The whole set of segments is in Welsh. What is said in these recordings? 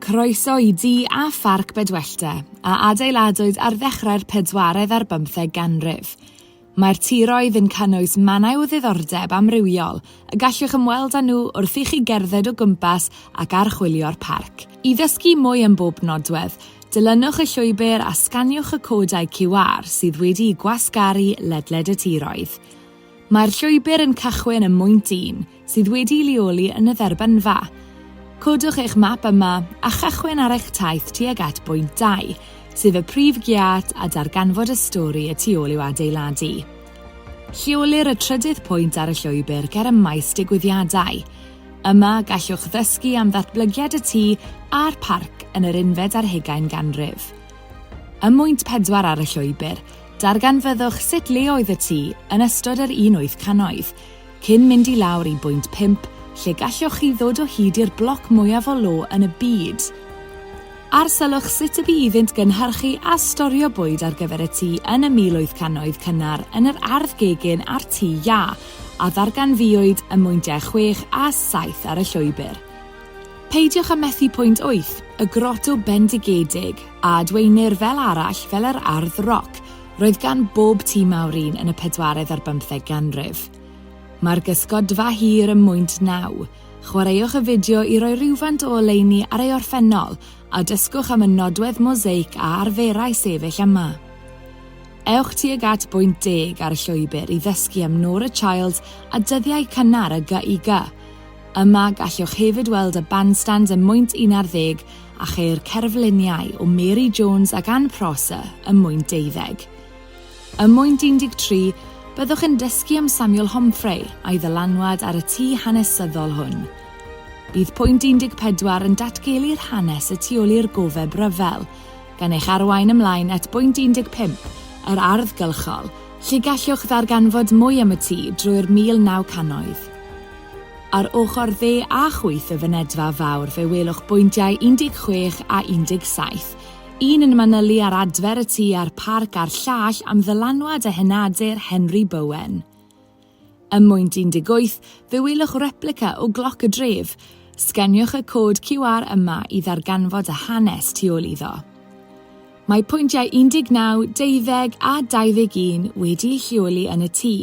Croeso i du a pharc Bedwellty, a adeiladwyd ar ddechrau'r pedwaredd ar bymtheg ganrif. Mae'r tiroedd yn cynnwys mannau o ddiddordeb amrywiol y gallwch ymweld â nhw wrth i chi gerdded o gwmpas ac archwilio'r parc. I ddysgu mwy am bob nodwedd, dilynwch y llwybr a sganiwch y codau QR sydd wedi'u gwasgaru ledled y tiroedd. Mae'r llwybr yn cychwyn ym mwynt un sydd wedi'i leoli yn y dderbynfa. Codwch eich map yma a chychwyn ar eich taith tuag at bwynt 2, sef y prif giât a darganfod y stori y tu ôl i'w adeiladu. Lleolir y trydydd pwynt ar y llwybr ger y maes digwyddiadau. Yma, gallwch ddysgu am ddatblygiad y tŷ a'r parc yn yr unfed ar hugain ganrif. Ym mwynt pedwar ar y llwybr, Darganfyddwch sut le oedd y tŷ yn ystod yr un wyth cannoedd, cyn mynd i lawr i bwynt pump lle galloch chi ddod o hyd i'r bloc mwyaf o lo yn y byd. Arsylwch sut y bu iddynt gynhyrchu a storio bwyd ar gyfer y tŷ yn y mil wyth cannoedd cynnar yn yr ardd gegin â'r tŷ iâ a ddarganfuwyd ym mwyntiau chwech a saith ar y llwybr. Peidiwch â methu pwynt wyth, y groto bendigedig, a adwaenir fel arall fel yr ardd roc, roedd gan bob tŷ mawr un yn y pedwaredd ar bymtheg ganrif. Mae'r gysgodfa hir ym mwynt naw. Chwaraewch y fideo i roi rywfaint o oleuni ar ei orffennol a dysgwch am y nodwedd mosaic a arferai sefyll yma. Ewch tuag at bwynt deg ar y llwybr i ddysgu am Nora Childs a dyddiau cynnar y GIG. Yma gallwch hefyd weld y bandstand ym mwynt un ar ddeg a cheir cerfluniau o Mary Jones ac Anne Prosser ym mwynt deuddeg. Ym mwynt 13, byddwch yn dysgu am Samuel Homfray a'i ddylanwad ar y tŷ hanesyddol hwn. Bydd pwynt 14 yn datgelu'r hanes y tu ôl i'r gofeb ryfel, gan eich arwain ymlaen at bwynt 15, yr ardd gylchol, lle gallwch ddarganfod mwy am y tŷ drwy'r 1900. Ar ochr dde a chwith y fynedfa fawr fe welwch bwyntiau 16 a 17, un yn manylu ar adfer y tŷ a'r parc a'r llall am ddylanwad a henadur Henry Bowen. Ym mwynt 18 fe welwch replica o gloc y dref, sgeniwch y cod QR yma i ddarganfod y hanes tu ôl iddo. Mae pwyntiau 19, 20 a 21 wedi'u lleoli yn y tŷ.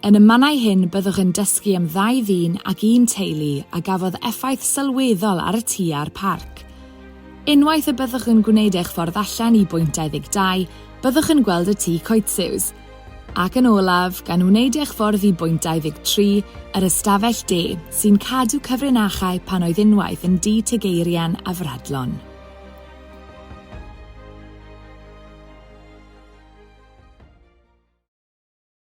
Yn y mannau hyn byddwch yn dysgu am ddau ddyn ac un teulu a gafodd effaith sylweddol ar y tŷ a'r parc. Unwaith y byddwch yn gwneud eich ffordd allan i bwynt 22, byddwch yn gweld y tŷ coetsiws. Ac yn olaf, gan wneud eich ffordd i bwynt 23, yr ystafell de, sy'n cadw cyfrinachau pan oedd unwaith yn dŷ tegeirian a fradlon.